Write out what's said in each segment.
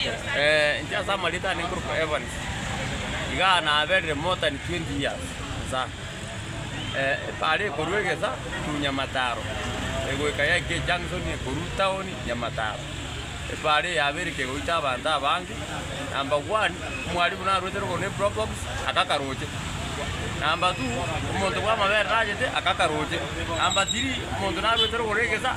Inche ase amarieto aane nkorokwa Evans, iga naberire more than twenty years nsa. Ebare ekorwa egesa to Nyamataro, egoika yaika ejunction ekorwa town Nyamataro. Ebare eye yabeire kegoita abanto abange, number one, omwarimu narwete rogoro ne probox, akaka roche. Number two, omonto bw'amabere narwete akaka roche. Number three, omonto narwete rogoro egesa.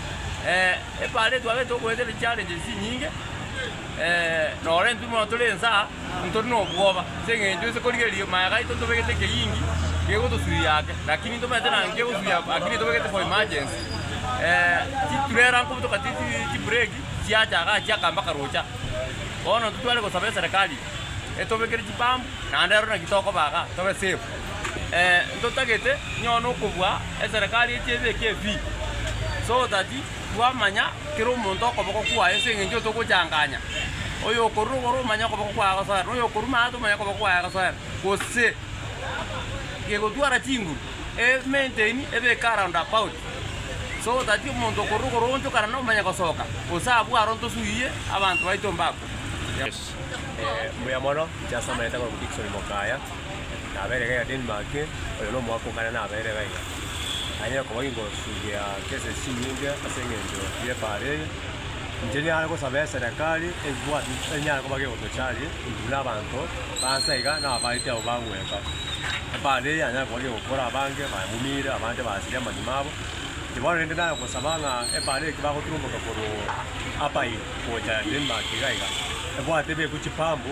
Epaara etwagete ogoeta ne challenges chinyinge, noro intwe bono tore ense aa ntori nobwoba ase eng'encho inse korigereria maega aito ntobegete ekeyingi kegotosuia ake lakini ntomaete naki nkegosuia ake lakini ntobegete for emergency. Chiturera nkobutoka ti ti chibureki chiacha iga achia aka mpaka rocha. Bono intwe tware gosaba eserekari etobekere chipambu naende ero naki tokoba iga tobe safe. ntotagete nonye okobua eserekari echi ebeke ebii, so that twamanya kera omonto okoboko kwaye ase eng'encho otogochanganya, oyo okorure igoro omanye okoboko kwaye agosoera, na oyo okorure maate omanye okoboko kwaye agosoera, gose gegotwara chinguru emainteni ebeke around about, so that omonto okorure igoro oonchokana na omanye gosoka, gose abwo aro ntosuuyie abanto baito mbakwe. Mbuya mono, inche ase amaete akorokwa Dickson Mokaya. nabeire gaiga Denmark, oyo nomwaka o kane nabeire gaiga. Nanyare koba ginkosugia chese chinyinge ase engencho y'ebaaro eye. Inche niare gosaba eserekari ebwate enyare koba gegotocharia intwe buna abanto b'ansa iga na abaiti abwo bagweka. Ebaaro eye yanyare koba gegokora abange bamumire abande basirie amanyuma abo. Inche bono rende nare gosaba ng'a ebaaro eke bagoturomboka korwa Apae gocha Denmark iga iga, ebwate ebekwe chipambu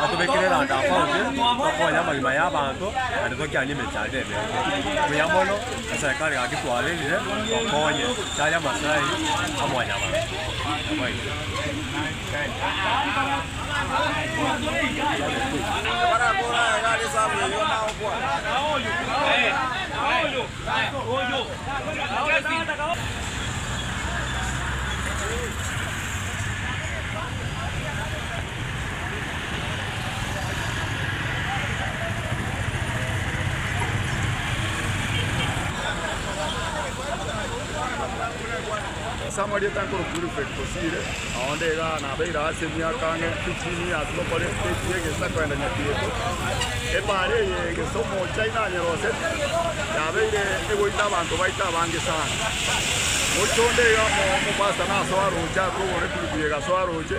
Batobekire eranda afauti, tokonya amagima y'abanto, naende tokianie emechando emenge. Buya mono, aserikari gaki twarerire, tokonye, tari amasai a mwanyabanto. Samari etankoro kuri Betosire, aonde iga nabeire aase emiaka ang'e echini y'ase bakore echi y'egeisa koenda Nyakieto. Ebaare eye egesa omochai nanyeroseti, yabeire egoita abanto baito abange sana. Mochie onde iga omo- omopastor nasoa roche arure ogoro ekulubi egasoa roche,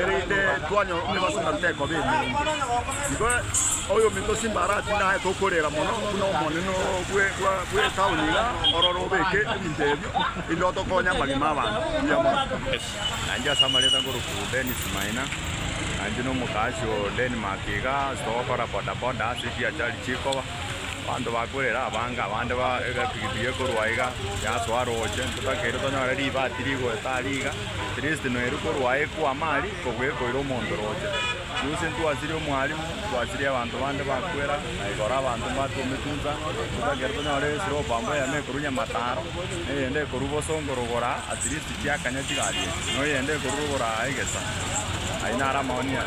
erinde twanyora omobaso ng'a tekoba emeeri. Igo oyominto o Simbarati naye tokorera mono buna omonene bw'etaoni iga, ororo obeke ebinto ebio, erinde otokonye amagima 'abanto buya mono. Nainche ase amarenta nkorokwa Dennis Maina, nainche na omokaasi o Denmark iga, ase togokora bodaboda ase echiachari chikoba. Abanto bakwerera abanga, abande ba egepigipigi ekorwa aiga yatoa roche, ntotakeire tonyore ribati rigoeta aria iga, atleast noerio korwa aye ekwama aria kobua ekoira omonto roche. Gose ntwasirie omwalimu, ntwasirie abanto bande bakwera, na igoro abanto mbato ometunsa, ntotakeire tonyore eslope amba eyemo ekorwa Nyamataro, eyende ekorwa Bosongo rogoro aa, atleast chiakanya chigari echi, noyende ekorwa rogoro aa egesa. Ayio naro amaoni aa.